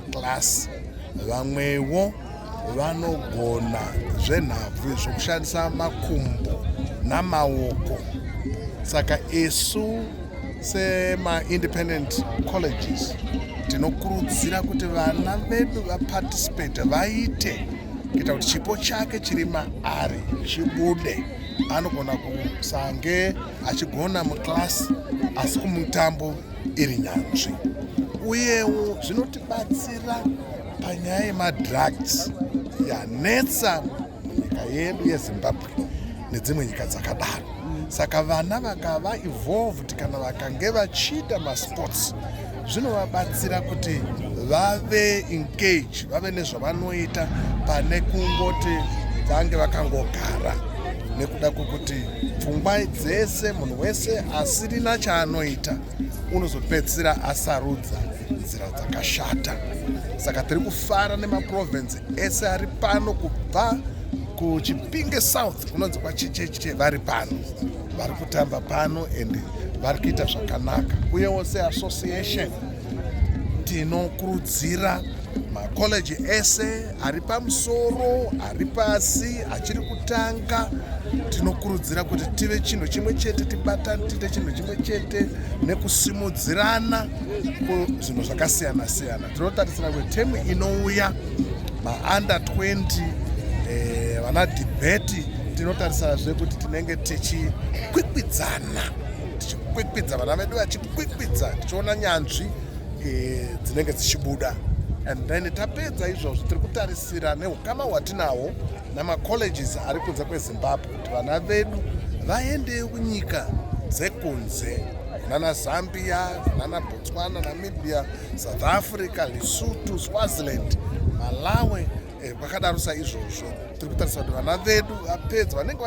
class vamwewo vanogona zvenhabvu izvo kushandisa makumbo namaoko saka isu semaindependent colleges tinokurudzira kuti vana vedu vaparticipate vaite kuita kuti chipo chake chiri maari chibude anogona kusange achigona muclass asi kumutambo iri nyanzvi uyewo zvinotibatsira panyaya yemadrugs yanetsa munyika yedu yezimbabwe nedzimwe nyika dzakadaro saka vana vakava evolved kana vakange vachiita masports zvinovabatsira kuti vave engage vave nezvavanoita pane kungoti vange vakangogara nekuda kwekuti pfungwa dzese munhu wese asirina chaanoita unozopedzisira asarudza nzira dzakashata saka tiri kufara nemaprovince ese ari pano kubva kuchipinge south kunonzi kwachicheche vari pano vari kutamba pano and vari kuita zvakanaka uyewo seassociation tinokurudzira makollege ese ari pamusoro ari pasi achiri kutanga tinokurudzira kuti tive chinhu chimwe chete tibatane tiite chinhu chimwe chete nekusimudzirana zvinhu zvakasiyana siyana tinotarisira kuti temu inouya maunder 20 eh, vana debeti tinotarisazve kuti tinenge tichikwikwidzana tichikwikwidza vana vedu vachikwikwidza tichiona nyanzvi eh, dzinenge dzichibuda and then tapedza izvozvo tiri kutarisira neukama hwatinahwo namacolleges ari kunze kwezimbabwe kuti vana vedu vaende kunyika dzekunze kunana zambia kunana botswana namibia south africa lesutu swaziland malawi Eh, kwakadaro saizvozvo tiri kutarisa kuti vana vedu vapedza vanenge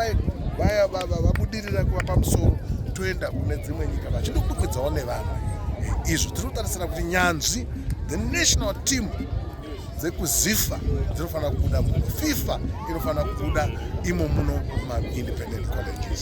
vaya vabudirira kuva pamusoro toenda kune dzimwe nyika vachindokwikwidzavo nevanhu eh, izvo tiri kutarisira kuti nyanzvi the national team dzekuzifa dzinofanira kubuda muno fifa inofanira kubuda imo muno maindependent colleges